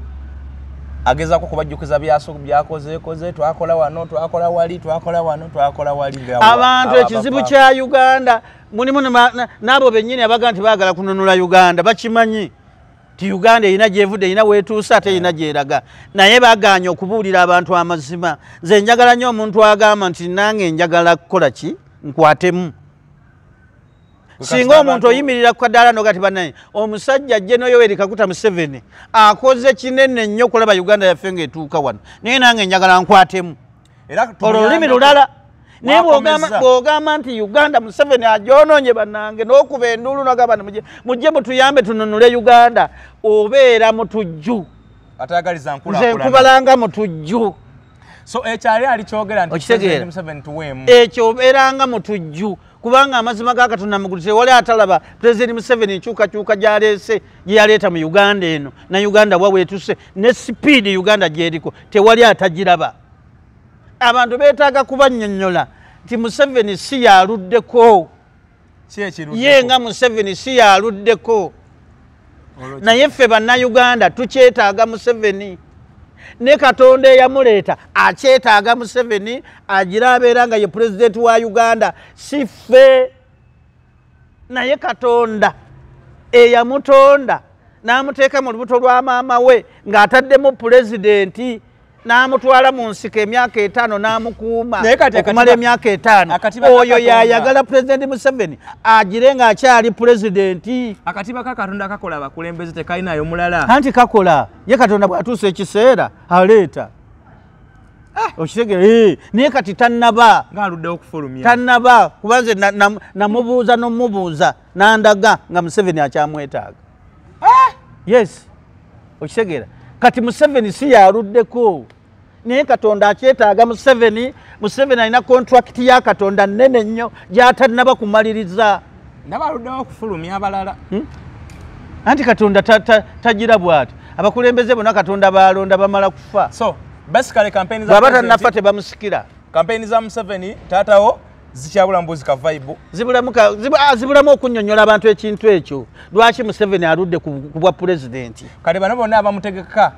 agezako kubajjukiza byakozekoze twakola wano twakola wali twakola wano twakola wali abantu ekizibu kya uganda mulimu n'abo bennyini abaga nti baagala kununula uganda bakimanyi ti uganda erina gyevudde erina wetuuse ate erina gyeraga naye baganye okubuulira abantu amazima nze njagala nnyo omuntu agamba nti nange njagala kukola ki nkwatemu singa omuntu oyimirira ku kadaala nogati banaye omusajja ajje noyoweri kakuta museveni akoze kinene nnyo okulaba uganda yaffe ngaetuuka wano naye nange njagala nkwatemu olwo lulimi lulala naye bwogamba nti uganda museveni ajononye banange nokuba enduulu nogamba ni mujje mutuyambe tununule uganda obeera mutujju nze nkubalanga mutujju so ekyali alikyogera nti museveni tuweemu ekyo obeeranga mutujju kubanga amazima ga katonda mugulu tewali atalaba pulezidenti museveni enkyukakyuka gyaleese gyeyaleeta mu uganda eno na uganda wa weetuse ne sipiidi uganda gyeriko tewali atagiraba abantu beetaaga kubanyonyola nti museveni si yaluddeko ye nga museveni si yaluddeko naye ffe bannayuganda tukyetaaga museveni ne katonda eyamuleeta akyetaaga museveni agira abeera nga ye pulezidenti wa uganda si ffe naye katonda eyamutonda n'amuteeka mu lubuto lwa maama we ng'ataddemu pulezidenti n'amutwala mu nsiko emyaka etaano n'amukuuma okumala emyaka etaano oyo yayagala pulezidenti museveni agire ng'akyali pulezidenti akatiba ka katonda kakola abakulembeze tekalinayo mulala anti kakola ye katonda bw'atuusa ekiseera aleeta ah! okitegera eh, naye kati tannaba tannaba kubanze namubuuza nomubuuza nandaga nga museveni akyamwetaaga eh! yes okitegeera kati museveni si yaluddeko naye katonda akyetaaga museveni museveni alina kontrakiti ya katonda nene nnyo gyatanaba kumaliriza nabaluddewo okufulumya abalala hmm? anti katonda tagira bwati abakulembeze bona katonda balonda bamala kufa so basically campaign za baba tanafa tebamusikira campaign za museveni tatawo zikyabula mbuzi ka vibe zibulamu ka ah, zibulamu okunyonyola abantu ekintu ekyo lwaki museveni aludde ku bwa president kale bano bonna abamutegeka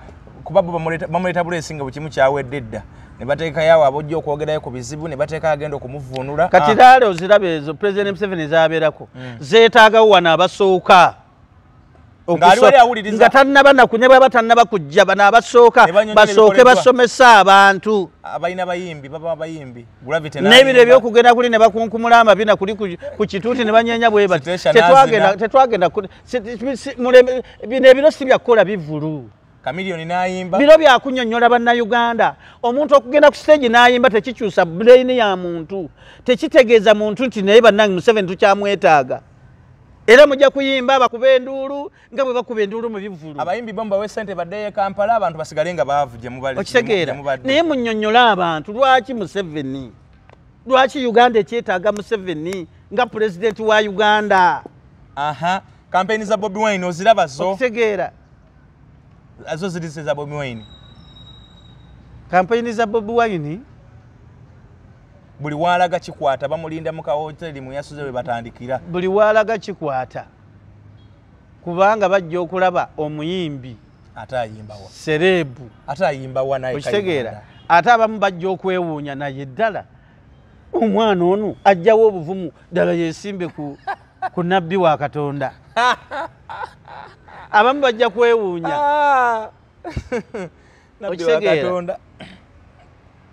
kuba bo bamuleta bulesi nga bukimu kyawedde dda ne bateeka yawo abojja okwogerayo ku bizibu ne bateeka agenda okumuvuunula kati ah. daale oziraba ezo president museveni zabeerako hmm. zeetaagawo wano abasooka nga tannaba naku ne bwaba tannaba kujja bano abasooka basooke basomese abantu n'ebiro ebyokugenda kuli ne bakunkumula amabina kuli ku kituuti ne banyenya bwe bati tetwagenda bino ebiro si byakukola bivulu kamiliyoni nayimba biro byakunyonyola bannayuganda omuntu okugenda ku siteegi nayimba tekikyusa bulaini ya muntu tekitegeeza muntu nti naye bannange museveni tukyamwetaaga era mujja kuyimba bakuba enduulu nga bwe bakuba enduulu mu bivvulu abayimbi bo mbawe sente baddeyo ekampala abantu basigale nga baavu gye mubali okitegeera naye munyonnyole abantu lwaki museveni lwaki uganda ekyetaaga museveni nga pulezidenti wa uganda aha kampeyini za bobi wine oziraba zo okitegeera zo ziri za bobi wine kampeyini za bobi wine buli waalaga kikwata bamulinda mu kahoteri mwe yasuze we batandikira buli waalaga kikwata kubanga bajja okulaba omuyimbi ate ayimbawa sereebu ate ayimbawa naye okitegeera ate abamu bajja okwewuunya naye ddala omwana ono ajjawo obuvumu ddala yesimbe ku, ku nabbi wa katonda abamu bajja kwewuunya ah. okitegeera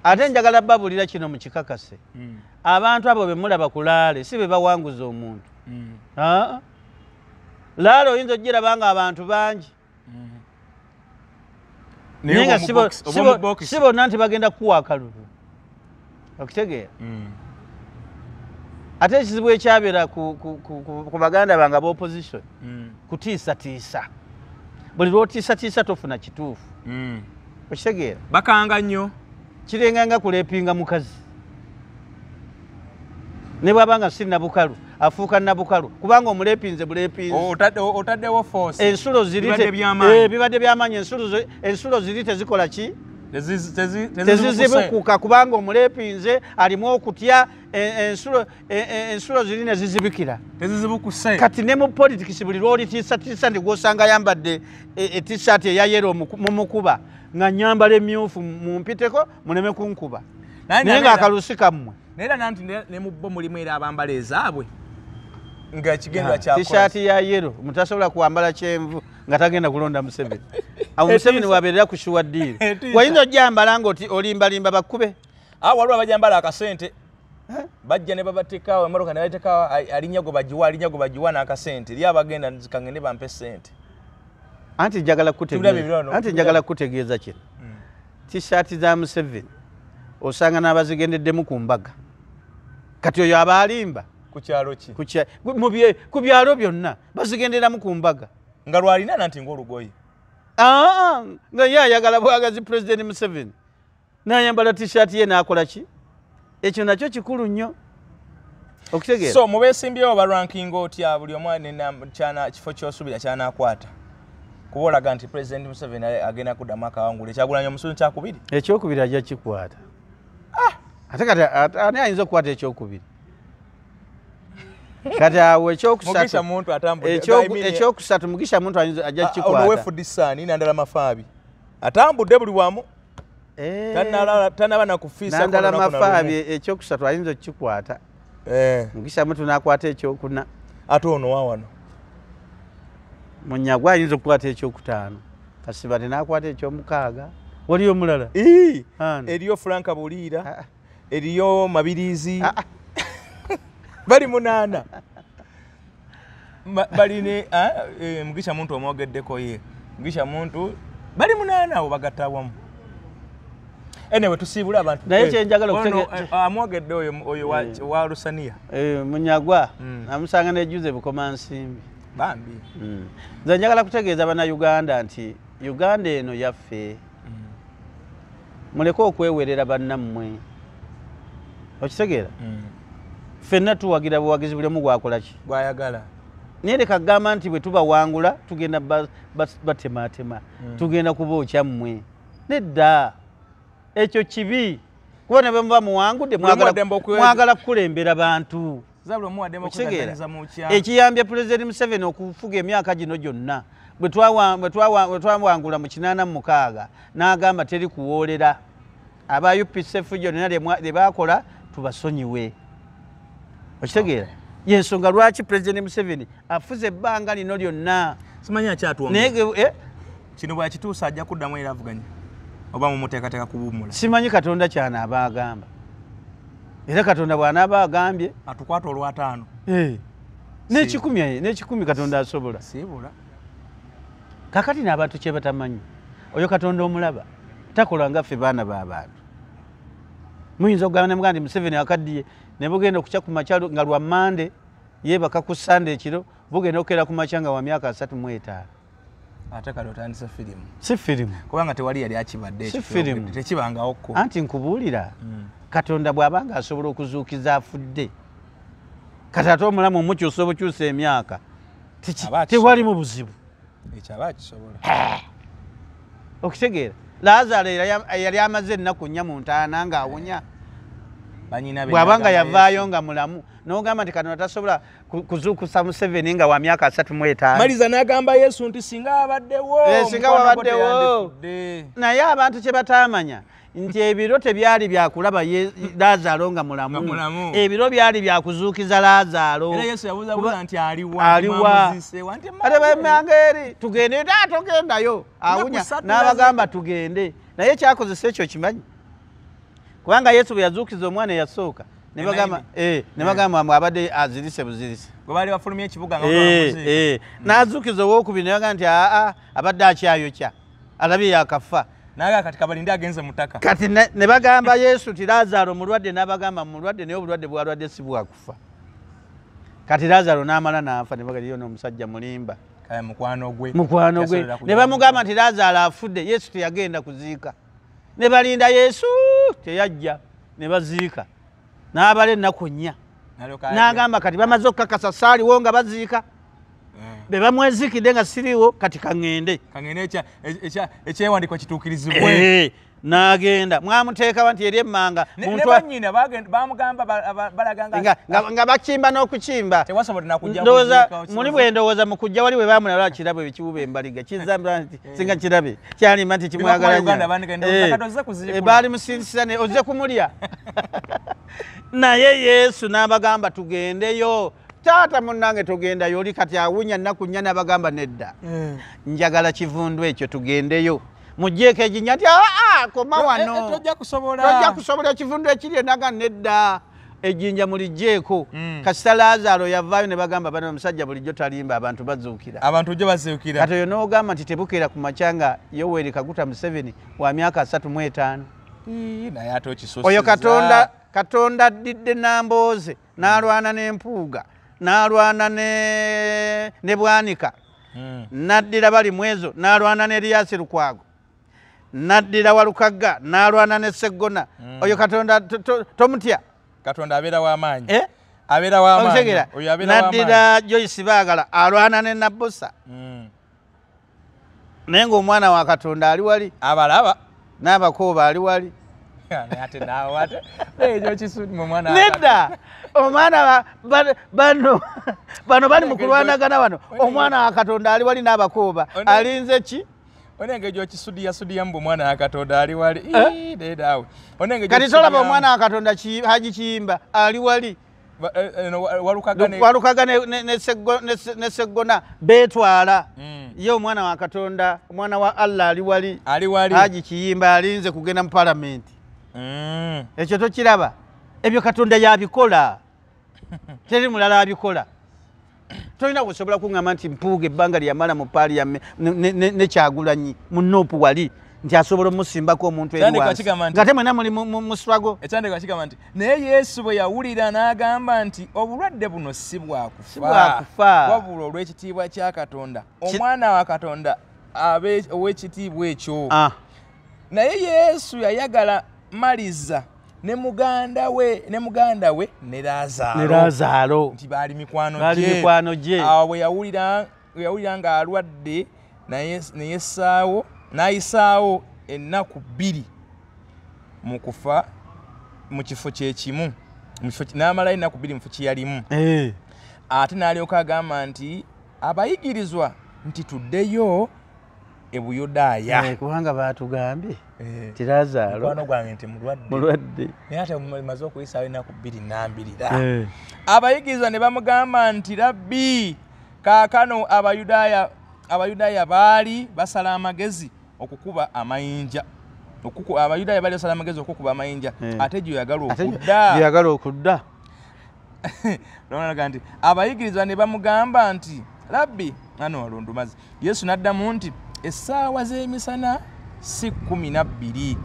ate njagala babulira kino mukikakase hmm. abantu abo bemulaba ku laale si be bawanguza omuntu hmm. laale oyinza okugiraba nga abantu bangi hmm. naye nga si bonna nti bagenda kukuwa akalulu okitegeera mm. ate ekizibu ekyabeera ku baganda bange aba opposition mm. kutiisatiisa buli lwotiisatiisa tofuna kituufu mm. okitegeera bakanga nnyo kirenga nga kuleepinga mukazi ne bwaba nga si nabukalu afuuka nabukalu kubanga omulepinze bulepinzeotaddewo ensulo ziribibadde eh, byamaanyi ensulo ziri tezikola ki tezizibukuka kubanga omuleepi nze alimu okutya e, e, e, ensulo ziri ne zizibikira kati ne mu politikisi buli lwolitiisatiisa ndi gwosanga ayambadde etisaati eyayero mumukuba nga nyambala emyufu mumpiteko muleme kunkuba naye nga akalusi kammwe naye era nanti ne mu bo mulimu era abambala ezaabwe nga kigendwa kyakola t-shirt ya yellow mutasobola kuambala kyenvu nga tagenda kulonda museveni awo museveni wabeerera ku shuwa diiri wayinza ojjambala nga olimbalimba bakkube awo ah, waliwo abajambala akasente bajja ne babatekawo emotoka ne batekawo alinya gwe bagiwa alinya gwe bagiwa n'akasente eri abagenda zikange ne bampe sente anti njagala kutegeezaanti njagala kukutegeeza kino hmm. tishaati za museveni osanga n'abazigendeddemu ku mbaga kati oyo abaalimba ku byalo byonna bazigenderamu ku mbaga nga lwalina nanti ngaolugoye aa nga ye ayagala bwagazi pulezidenti museveni nayambala tishati ye nakola ki ekyo nakyo kikulu nnyo okutegeera so mubesimbyewo balwankinga otya buli omu kyana kifo kyosubira kyanakwata kuba olaga nti pulezidenti museveni agenda kuddamu akawangula ekyagulanya omusuzi kyakubiri ekyokubiri ajja kikwata ah! ate kati ani ayinza okukwata ekyokubiri kati awo ekyokusatu mugisha muntu ajja kikwataatambudde ah, buli wamu eh. tanaba nakufiisandala mafaabi ekyokusatu ayinza okukikwata eh. mugisha muntu nakwata ekyokuna ate ono wawano munyagwa ayinza okukwata ekyokutaano kasibati nakwata ekyomukaaga waliyo omulala eriyo franka buliira ah, ah. eriyo mabirizi ah, ah. bali munaana bali ne ah, eh, mugisha muntu omwogeddeko ye mugisha muntu bali munaana abo bagatta wamu enewe tusiibule abantu naye eh, kyenjagala eh, amwogedde oyo oyo wa hmm. lusaniya munyagwa hmm. amusanga nejuze bukoma nsimbi bambi hmm. nze njagala kutegeeza bana uganda nti uganda eno yaffe muleke okwewerera bannammwe okitegeera mm. ffenna tuwagira buwagizi buli omu gwakolaki gwayagala naye leka kugamba nti bwe tubawangula tugenda batematema mm. tugenda kuba okyammwe nedda ekyo kibi kuba ne bwemuba muwangudde mwagala kukulembera bantu ekiyambye pulezidenti museveni okufuga emyaka gino gyonna bwe twawangula mu kinaana mu mukaaga n'agamba teri kuwoolera aba upc efujjo lyona lye baakola tubasonyiwe okitegeera yensonga lwaki pulezidenti museveni afuze ebbanga lino lyonna simanyi akyatwnaye eh? kino bwakituusa ajja kuddamu era avuganya oba mumuteekateeka kuwummula simanyi katonda kyanaaba agamba era katonda bwanaaba agambye atukwata olwataano eh. nekikumi eh, nekikumi katonda asobola sibula kakati naabantu kyebatamanyi oyo katonda omulaba takola nga ffe baana babantu muyinza okugamba nemuga nti museveni akaddiye ne bugenda okukya ku makyalo nga lwa mande yebaka ku sande ekiro bugenda okukeera ku makya nga wa myaka asatu mu etaano ate kale otandise firimu si firimu kubanga tewali yali akibadde tekibangawo ko anti nkubuulira mm. katonda bw'aba nga asobola okuzuukiza afudde kati ate omulamu omukyusa obukyusa emyaka tewalimu buzibu ekyaba akisobola eh. okitegeera lazaalo yali amaze ennaku nnya mu ntaana ng'awunya bw'aba nga yavaayo nga mulamu n'ogamba nti katonda tasobola kuzuukusa museveni nga wa myaka asatu mu etaano maliza n'agamba yesu nti singa abaddewo eh, singa wabaddewo naye abantu kye bataamanya nti ebiro tebyali byakulaba lazaalo nga mulamu ebiro byali byakuzuukiza lazaaloaliwaemangeri tugende da togendayo awunya n'abagamba tugende naye kyakozesa ekyo kimanyi kubanga yesu bwe yazuukiza omwana eyasooka nebagamba eh, eh. mwe abadde azirise buzirise gwebaali bafulumya ekibuga eh, mm. nazuukiza owokubiri nebagamba nti aa abadde akyayokya alabye yakafa naye kati kabalinde agenze mutaka kati ne bagamba yesu ti lazaro mulwadde nabagamba mulwadde naye obulwadde bwalwadde si bwakufa kati lazaro namala nafa nebagaliyo nomusajja mulimba mukwano gwe ne bamugamba nti lazaro afudde yesu teyagenda kuziika ne balinda yesu teyajja ne baziika n'abala ennaku nnya n'agamba kati bamaze okukakasa saaliwo nga baziika eh. be bamwezikidde nga siriiwo kati kaŋŋende ekyewandiko e, e, kituukirizibwe eh. nagenda mwamuteekawa nti eri emmanga nga bakimba n'okukimba muli bwendowooza mukujja wali webamulala kirabo ekiwuba embaliga kizambira nti Eh. singa kirabe kyalima nti kimwagalabaali musinsisane ozze kumulya naye yesu n'abagamba tugendeyo taata munange tugendayo oli kati awunya nnaku nnya n'abagamba nedda eh. njagala kivundu ekyo tugendeyo mujjeeko eginya nti aa koma eh, wanotojja kusobola ekiri enaga nedda ejjinja mulijjeeko mm. kasita laazaalo yavaayo ne bagamba bana omusajja bulijjo talimba abantu bazuukira abantu jo bazuukira kati oyo n'ogamba nti tebukeera ku makya nga yoweri kaguta museveni wa myaka asatu mu etaano naye ate okisusiza oyo katonda katonda addidde nambooze n'alwana n'empuuga n'alwana ne bwanika mm. n'addira bali mwezo n'alwana ne eriyasi lukwago naddira walukagga n'alwana ne seggona mm. oyo katonda tomutya katonda abeera w'amaanyi eh? abeera w'amaanyitegera naddira joyce baagala alwana ne nabbosa mm. naye ng'omwana wa katonda ali wali abalaba n'abakooba ali wali nedda omwana bano bano bali mu kulwanagana wano omwana wa katonda ali wali n'abakooba alinze ki onenge gyokisudiya sudiya mbu mwana yakatonda ali wali eh? dedawe onenge kati tolaba omwana wakatonda haji kiyimba ali wali eh, eh, walukaga ne seggona betwala hmm. ye omwana wa katonda omwana wa allah ali wali haji kiyimba alinze kugenda mu palamenti hmm. ekyo tokiraba ebyo katonda yabikola teri mulala abikola tolina kusobola kuŋama nti mpuuga ebbanga lyeyamala mu paliame nekyagulanyi mu nup wali nti asobola omusimbako omuntu eriwasingate mwena muli muswago ekyandeko akigamba nti naye yesu bwe yawulira n'agamba nti obulwadde buno si bwakufa wabula olw'ekitiibwa kya katonda omwana wa katonda abe ow'ekitiibwa ekyo ah. naye yesu yayagala maliza ne muganda we ne muganda we ne Lazaro ne Lazaro nti bali mikwano gye bali mikwano gye awo bwe yawulira yawulira nga alwadde naye naye saawo nayisaawo ennaku bbiri mu kufa mu kifo kye kimu mu kifo n'amalayo ennaku bbiri mu kifo kye yalimu eh. ate n'alyoka agamba nti abayigirizwa nti tuddeyo e buyudaaya eh, kubanga baatugambye eh. nti lazaalo mukwano gwange nti mulwadde naye ate maze okuyisaawo ennaku bbiri nambirira eh. abayigiriza ne bamugamba nti rabbi kaakano abayudaaya abayudaaya baali basala amagezi okukuba amayinja abayudaaya baali basala amagezi okukuba amayinja ate gyoyagala okudda lwalaga nti abayigirizwa ne bamugamba nti rabbi ana walundumazi yesu n'addamu nti essaawa z'emisana si kumi na bbiri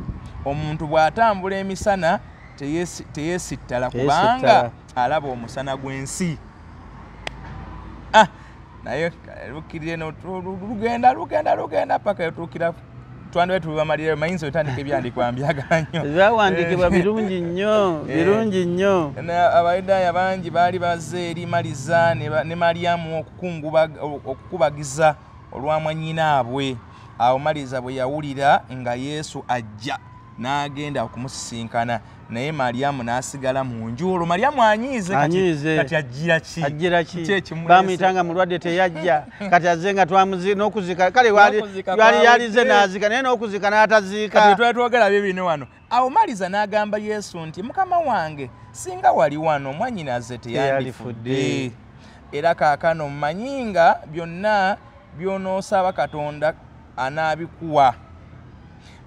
omuntu bw'atambula emisana teyesittala kubanga alaba omusana gw'ensi ah, naye lukirire lugenda lugenda lugenda paka yotuukira twandibe tubamalire mayinza otandika ebyandikwa mbyagala nnyo byawandikibwa birungi nnyo eh. birungi nnyo abayudaaya bangi baali baze eri maliza ne malyamu okukubagiza olwamwanyinaabwe awo maliza bwe yawulira nga yesu ajja n'agenda okumusisinkana naye malyamu n'asigala mu nju olwo malyamu anyiize kati ajjira ki ajjira ki bamuyita nga mulwadde teyajja kati azze nga twamuzi n'okuzika kale wali yalize n'azika naye n'okuzika n'ataziika kati twali twogera bye bino wano awo maliza n'agamba yesu nti mukama wange singa wali wano mwanyinaze teyandifudde era kaakano mmanyi nga byonna by'onoosaba katonda anaabikuwa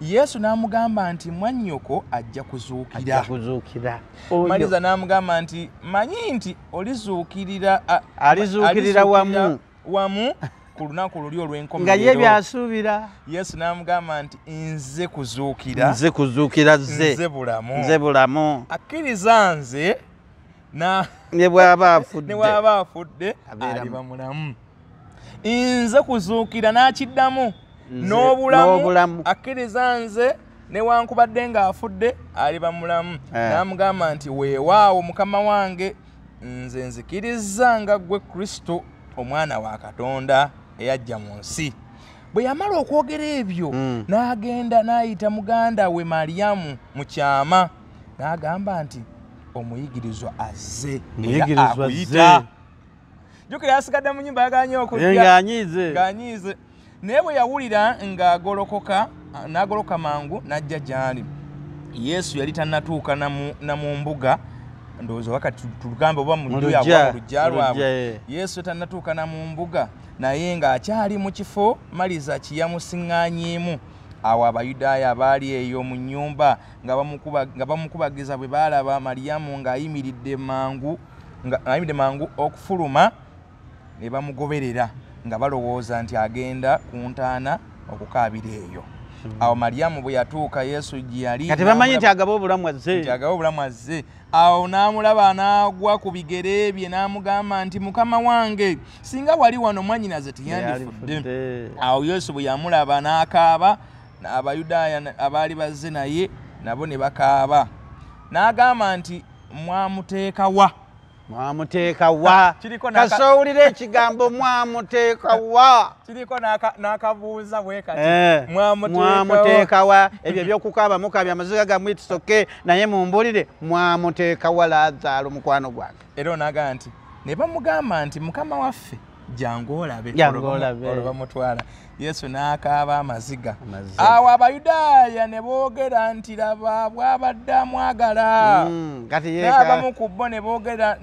yesu n'amugamba nti mwannyoko ajja kuzuukirakuzuukira maliza n'amugamba nti manyi nti olizuukirira alizuukirira wamu wamu ku lunaku luli olw'enkomo nga ye byasuubira yesu n'amugamba nti nze kuzuukira nze kuzuukira ze nze bulamu nze bulamu akkiriza nze ne bwaba afudde aliba mulamu nze kuzuukira n'akiddamu n'obulamu akkiriza nze newankubadde ng'afudde aliba mulamu eh. n'amugamba nti weewaawo mukama wange nze nzikirizza nga ggwe kristo omwana wa katonda eyajja mu nsi bwe yamala okwogera ebyo hmm. n'agenda n'ayita muganda we maliyamu mu kyama n'agamba nti omuyigirizwa azze akuyita jukira yasigadde mu nyumba yaganye okugyanyiize naye bwe yawulira ng'agolokoka n'agoloka mangu n'ajja gy'ali yesu yali tannatuuka na mu mbuga ndowooza wakati tugamba oba mulujja lwabwe eh. yesu tannatuuka na mu mbuga naye ng'akyali mu kifo maliza kiyamusiŋŋanyeemu awo abayudaaya abaali eyo mu nnyumba nga bamukubagiza bwe baalaba maliyamu ng'ayimiridde mangu ng'ayimiridde mangu okufuluma ne bamugoberera nga balowooza nti agenda ku ntaana okukaabira eyo hmm. awo maliyamu bwe yatuuka yesu gye yali kati bamanyi nti agaba obulamu azze nti agaba obulamu azze awo n'amulaba n'agwa ku bigere bye n'amugamba nti mukama wange singa wali wano mwanyinaze tiyandifudde awo yesu bwe yamulaba n'akaaba abayudaaya abaali bazze naye nabo ne bakaaba n'agamba nti mwamuteeka wa mwamuteeka wa kasowulira ekigambo mwamuteeka wa kiriko n'akabuuza wekati eh, mwamuteeka wa ebyo ebyokukaaba mukabya amaziga gamwitisoke naye mumbulire mwamuteeka wa lazaalo mukwano gwange era onagamba nti ne bamugamba nti mukama waffe jangu olabe olwo bamutwala yesu n'akaaba amaziga awo abayudaaya ne boogera nti laba bwabadde amwagala mm, n'abamu ku bo ne boogera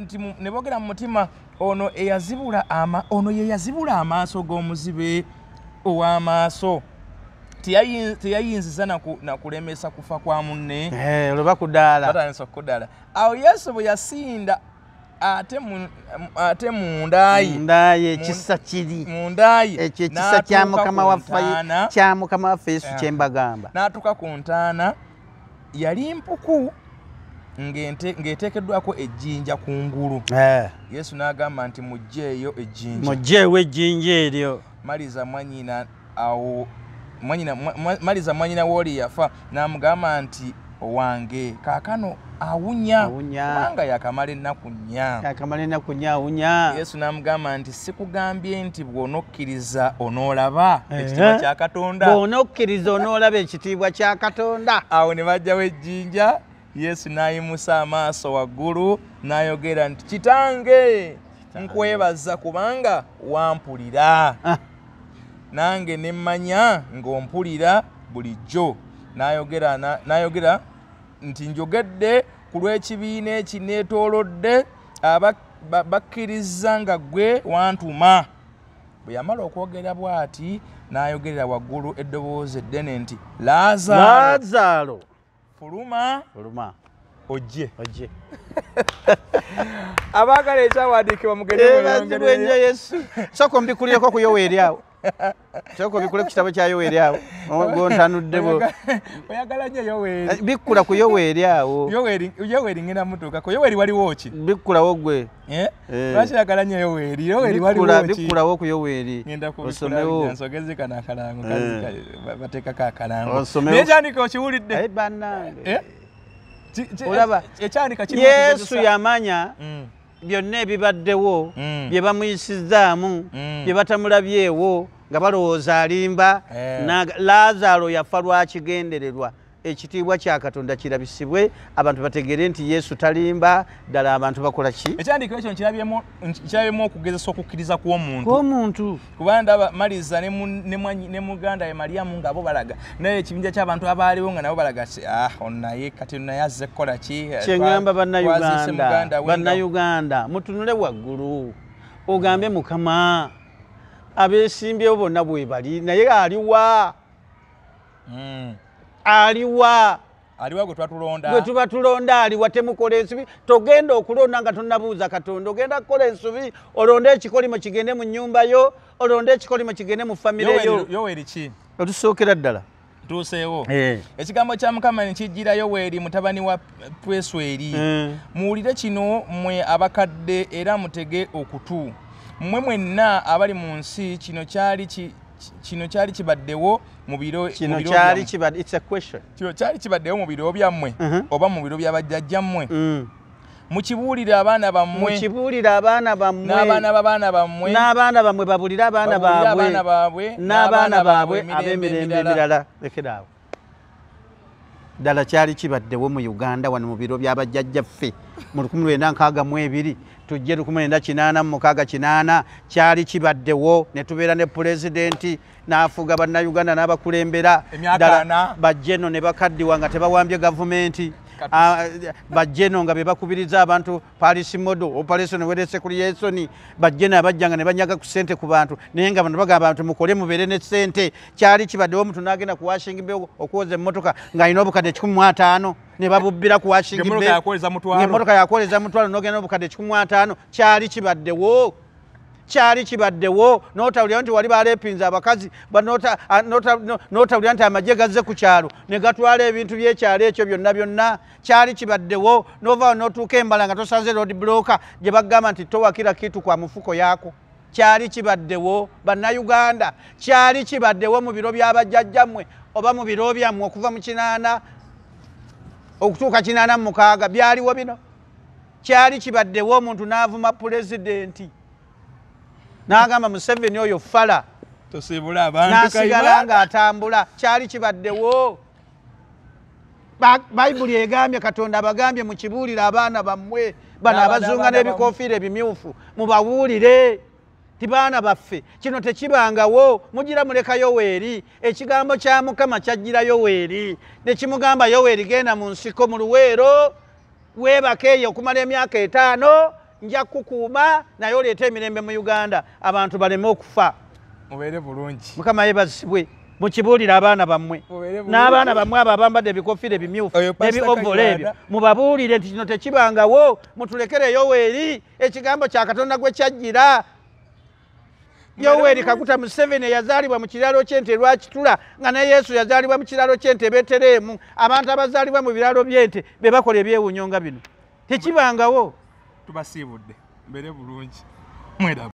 mu mutima ono eyazibula ama ono ye yazibula amaaso g'omuzibe ow'amaaso teyayinziza nakulemesa kufa kwa munne eh, olwo bakudala batandisa okudala awo yesu bwe yasinda ate mu ate mu ndayi ndayi ekisa kiri mu ndayi ekyo ekisa kya mukama wa fayina kya mukama wa fesu kye mbagamba natuka ku ntana yali mpuku ngente ngetekedwa ko ejinja ku ngulu eh yesu nagamba nti mujjeyo ejinja mujjewe ejinja elyo maliza mwanyina awo mwanyina maliza mwanyina woli yafa namugamba nti owange kakano awunya kubanga yakamala ennaku nyayakamala ennaku nya awunya yesu namugamba nti sikugambye nti bwonokkiriza onoolaba ekitiibwa kya katonda bwonokkiriza onoolaba ekitiibwa kya katonda awo ne bajjawo ejjinja yesu n'ayimusa amaaso waggulu n'ayogera nti kitange nkwebaza kubanga wampulira ah. nange ne mmanya ng'ompulira bulijjo n'ayogera nti njogedde ku lw'ekibiina ekineetoolodde bakkiriza nga gwe wantuma bwe yamala okwogera bw'ati n'ayogerera waggulu eddoboozi eddene nti laazaalo fuluma fuluma ojje ojje abaagala ekyawandiikibwa mugendewenyo yesu sooka ombikulireko ku yoweeri awo sooka obikule ku kitabo kya yoweeri awo gontanudde bo oyagala nyo yoweeri eh, bikkula ku yoweeri awo yoweeri ngenda mutuukako yoweeri waliwo ki bikkulawo gwe Eh? Eh. lwaki yagala nyo yoweeri yoweeri waliwobikulawo ku yoweeri ngendakuosomewonsogeze kano akalango eh. bateekako akalango naye kyandika okiwulidde olaba yesu yamanya mm. byonna ebibaddewo mm. bye bamuyisizzaamu mm. bye batamulabyewo nga balowooza alimba lazaalo yafa lwakigendererwa ekitiibwa kya katonda kirabisibwe abantu bategeere nti yesu talimba ddala abantu bakola ki ekyandiikiro ekyo nkirabyemu okugezesa okukkiriza kw'omuntuomuntu kuba ndaba maliza ne muganda ye maliyamu ngaabo balaga naye ekibinja ky'abantu abaaliwo nga nabo balaga ti ah onaye kati naye azze kukola ki eh, kyengamba bannayuganda bannayuganda mutunule waggulu ogambe mukama abeesimbyewo bonna bwebali naye aliwa mm. aliwa aliwa gwe twatulonda gwe tuba tulonda aliwa temukola ensubi togenda okulonda nga tonabuuza katonda ogenda kukola ensubi olonde ekikolimo kigende mu nyumba yo olonde ekikolimo kigende mu famire yo yoweriki otusookera ddala tuuseewo eh. ekigambo kya mukama nekijjira yoweeri mutabani wa pwesweri eh. muwulire kino mwe abakadde era mutege okutu mmwe mwenna abali mu nsi kino kyali kino kyali kibaddewo kino kyali kibadde it's a question kino kyali kibaddeyo mu biro byammwe uh-huh. oba mu biro bya bajjajjammwe mm. mukibuulire abaana bammwe mukibuulire abaana bammwe n'abaana b'abaana bammwe n'abaana bammwe babulire abaana baabwe baabwe n'abaana baabwe ab'emirembe emirala lekeraawo ddala kyali kibaddewo mu uganda wano mu biro bya bajjajjaffe mu 1962 tujje 1986 kyali kibaddewo ne tubeera ne pulezidenti n'afuga bannayuganda n'abakulembera ddala bajjeno ne bakaddiwa nga tebawambye gavumenti ah, bajjeno nga be bakubiriza abantu palisi modo operation werese kuli yesoni bajjeno abajja nga ne banyaga ku ssente ku bantu naye nga bano bagamba nti mukole mubeere ne ssente kyali kibaddewo omuntu n'agenda ku washing be okwoza emmotoka ng'alina obukadde kikumi mu ataano ne babubbira ku washing be emotoka yakwoleza mutwalo n'ogenda n'obukadde kikumi mu ataano kyali kibaddewo kyali kibaddewo notawulira nti wali balepinza abakazi notawulira nti amagye gazze ku kyalo ne gatwala ebintu byekyalo ekyo byonna byonna kyali kibaddewo novaawo notuuka embala nga tosanze road bloka gye bagamba nti towakira kitu kwa mufuko yako kyali kibaddewo bannayuganda kyali kibaddewo mu biro byabajjajjammwe oba mu biro byammwe okuva mu kinaana okutuuka kinaana mu mukaaga byaliwo bino kyali kibaddewo omuntu n'avuma pulezidenti n'agamba museveni oyo fala nasigala ng'atambula kyali kibaddewo bayibuli egambye katonda abagambye mukibuulire abaana bammwe bano abazunga n'ebikofiira ebimyufu mubabuulire ti baana baffe kino tekibangawo mugira muleka yoweeri ekigambo kya mukama kyajjira yoweeri ne kimugamba yoweeri genda mu nsiko mu luweero weebaka eyo okumala emyaka etaano nja kukuuma naye oleeta emirembe mu uganda abantu baleme okufa mubeere bulungi mukama yebazibwe mukibuulire abaana bammwe n'abaana bammwe abo abambadde ebikofira ebimyufu ebiovola ebyo mubabuulire nti kino tekibangawo mutulekereyo weeri ekigambo kya katonda gwe kyajjira yoweri kaguta museveni eyazaalibwa mu kiraalo kyente lwakitula nga ne yesu yazaalibwa mu kiraalo kyente betereemu abantu abazaalibwa mu biraalo byente be bakola ebyewunyo nga bino tekibangawo tubasiibudde mbere bulungi